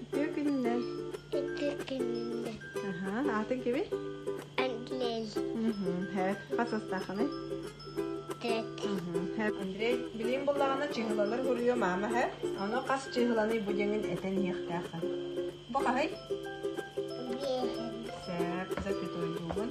Үтүө күннэр. Үтүө күннэр. Аха, атын кими? Андрей. Хэ, хас астаханы? Тет. Андрей, билим буллаҕына чыһылалар хуруйу мама хэ. Аны хас чыһыланы бу деңин этен иэхтээхэ. Бу хаһай? Сэр, за пятой бугун.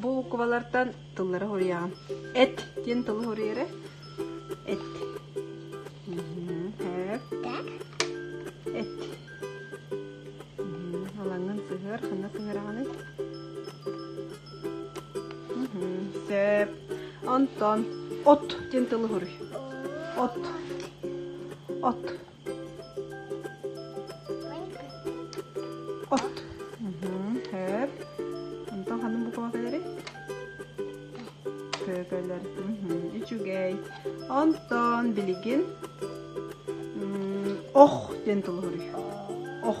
Бу букубалартан тыллары суруйаҕын. Эт диэн тылы суруйары. Эт. Эт. Алаҥын сыһыар, ханна сыһыараҕыный? Сөп. Онтон от диэн тылы суруй. От. От. От. Хөп. Онтон ханна бу көкөлөрү? Көкөлөр. Үчүгэй. Онтон билигин ох диэн тылы хоруй. Ох.